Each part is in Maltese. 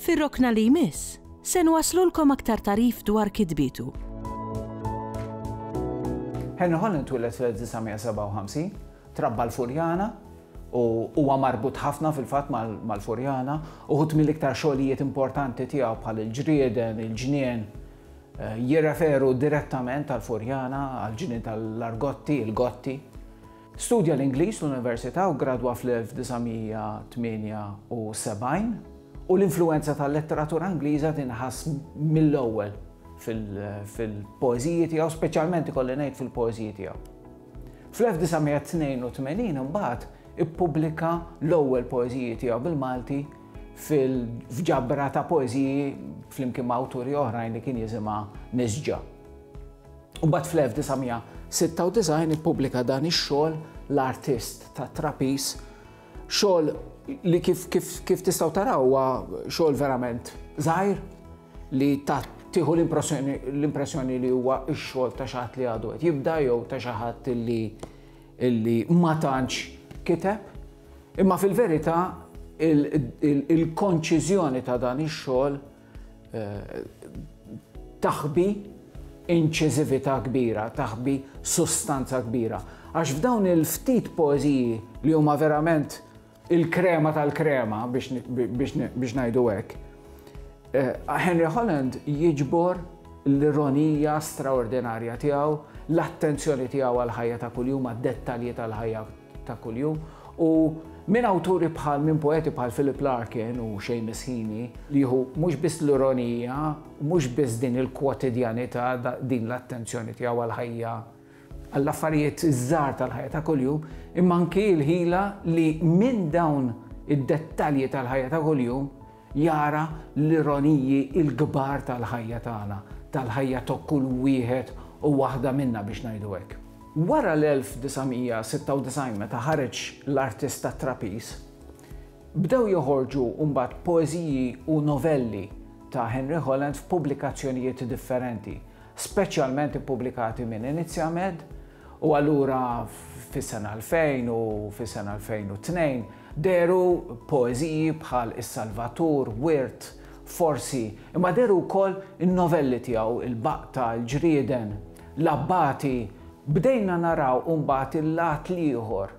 Fir-rokna li jmiss, se nwasslulkom aktar tagħrif dwar kitbietu. Henry Holland twieled fl-1957, trabba l-Furjana u huwa marbut ħafna fil-fatt mal-Furjana uħud mill-iktar xogħlijiet importanti tiegħu bħal il-ġrieden, il-ġnien, eh, jirreferu direttament għall-Furjana, għall-ġnien tal-argotti, il-gotti. Studja l-Ingliż fl-università u ggradwa fl-1978, u l-influwenza tal-letteratura Ingliża tinħass mill-ewwel fil-poeżiji tiegħu, speċjalment ikolli ngħid fil-poeżiji tiegħu. Fl-1982 imbagħad ippubblika l-ewwel poeżiji tiegħu bil-Malti f'ġabra ta' poeżiji flimkien ma' awturi oħrajn li kien jisimha Nisġa. Imbagħad fl-1996 ippubblika dan ix-xogħol L-Artist tat-Trapiż, xogħol li kif kif kif tistgħu taraw huwa xogħol verament żgħir li ta' tieħu l-impressjoni li huwa x-xogħol ta' xi ħadd li għadu qed jibda jew ta' xi ħadd li li ma tantx kiteb. Imma fil-verità il-konċiżjoni ta' dan ix-xogħol taħbi inċiżività kbira, taħbi sustanza kbira. Għax f'dawn il-ftit poeziji li huma verament il-krema tal-krema biex ngħidu hekk, eh, Henry Holland jiġbor l-ironija straordinarja tiegħu, l-attenzjoni tiegħu għal ħajja ta' kuljum, għad-dettalji tal-ħajja ta' kuljum u minn awturi bħal minn poeti bħal Philip Larkin u Seamus Heaney li jieħu mhux biss l-ironija, mhux biss din il-kwotidjanità, din l-attenzjoni tiegħu għall-ħajja, għall-affarijiet iż-żgħar tal-ħajja ta' kuljum, imma anki l-ħila li minn dawn id-dettalji tal-ħajja ta' kuljum Jara l-ironiji l-kbar tal-ħajja tagħna, tal-ħajja ta' kull wieħed u waħda minna biex ngħidu hekk. Wara l-1996 meta ħareġ L-Artist tat-Trapiż, bdew joħorġu mbagħad poeżiji u novelli ta' Henry Holland f'pubblikazzjonijiet differenti, speċjalment ippubblikati minn Inizjamed, u allura fis-sena 2000 u fis-sena 2002, Dehru poeżiji bħal Is-Salvatur, Wirt, Forsi, imma dehru wkoll in-novelli tiegħu Il-Baqta, Il-Ġrieden, L-Abbati. Bdejna naraw imbagħad il-lat l-ieħor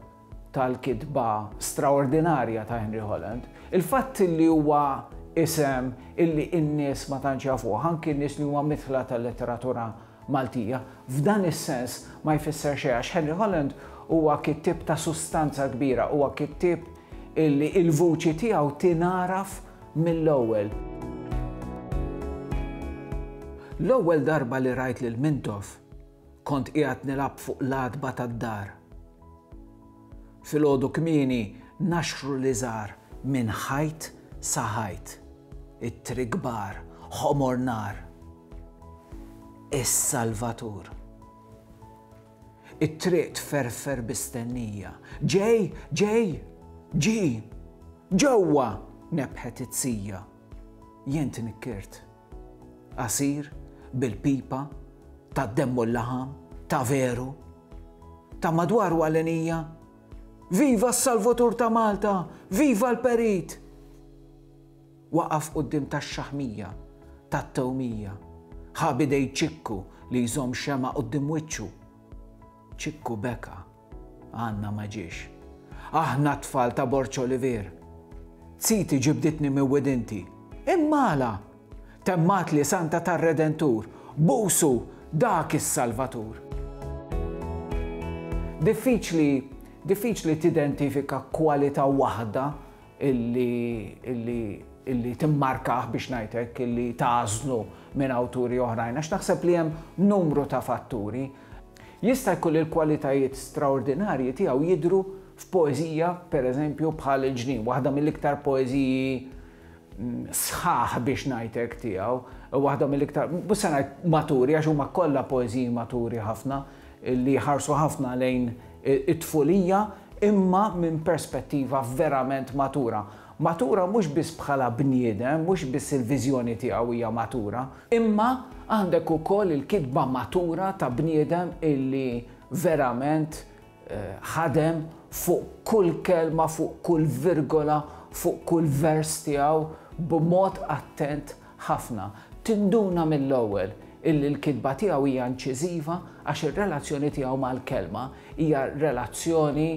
tal-kitba straordinarja ta' Henry Holland. Il-fatt li huwa isem illi n-nies ma tantx jafuh, anki n-nies li huma midħla tal-letteratura Maltija. F'dan is-sens ma jfisser xejn għax Henry Holland huwa kittieb ta' sustanza kbira, huwa kittieb illi il-vuċi tiegħu tingħaraf mill-ewwel. L-ewwel darba li rajt lil Mintoff kont qiegħed nilgħab fuq l-għatba tad-dar. Filgħodu kmieni naxxru l-iżgħar minn ħajt sa ħajt. Ittri kbar, ħomor nar. is-Salvatur. It-triq tferfer bi stennija. Ġej, ġej, ġi! Ġewwa! nebħet it-sija. Jien tnikkirt. Qasir, bil-pipa, tad-demm u l-laħam, ta' veru. Ta' madwaru għalenija. Viva s-Salvatur ta' Malta! Viva l-Perit! Waqaf quddiem tax-xaħmija, tat-tewmija. Ħa b'idej Ċikku li jżomm xemgħa quddiem wiċċu. Ċikku beka. Għanna ma ġiex. Aħna t-tfal ta' Borg Olivier. Ziti ġibditni minn widinti. Imma għala? Temmatli Santa tar-Redentur, Busu, dak is-Salvatur! Diffiċli, diffiċli tidentifika kwalità waħda illi timmarkah biex ngħid hekk, illi tagħżlu minn awturi oħrajn, għax naħseb li hemm numru ta' fatturi. Jista' jkun li l-kwalitajiet straordinarji tiegħu jidhru f'poeżija, pereżempju, bħal Il-Ġnien, waħda mill-iktar poeżiji mm, sħaħ biex ngħid hekk tiegħu, waħda mill-iktar, mhux se ngħid maturi għax huma kollha poeżiji maturi ħafna, li jħarsu ħafna lejn it-tfulija imma minn perspettiva verament matura. Matura mhux biss bħala bniedem, mhux biss il-viżjoni tiegħu hija matura, imma għandek ukoll il-kitba matura ta' bniedem illi verament ħadem fuq kull kelma, fuq kull virgola, fuq kull vers tiegħu b'mod attent ħafna, tinduna mill-ewwel illi l-kitba tiegħu hija inċiżiva għax ir-relazzjoni tiegħu mal-kelma hija relazzjoni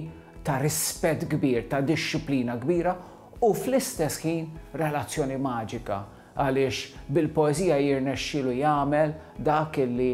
ta' rispett kbir, ta' dixxiplina kbira u fl-istess ħin relazzjoni maġika għaliex bil-poeżija jirnexxielu jagħmel dak illi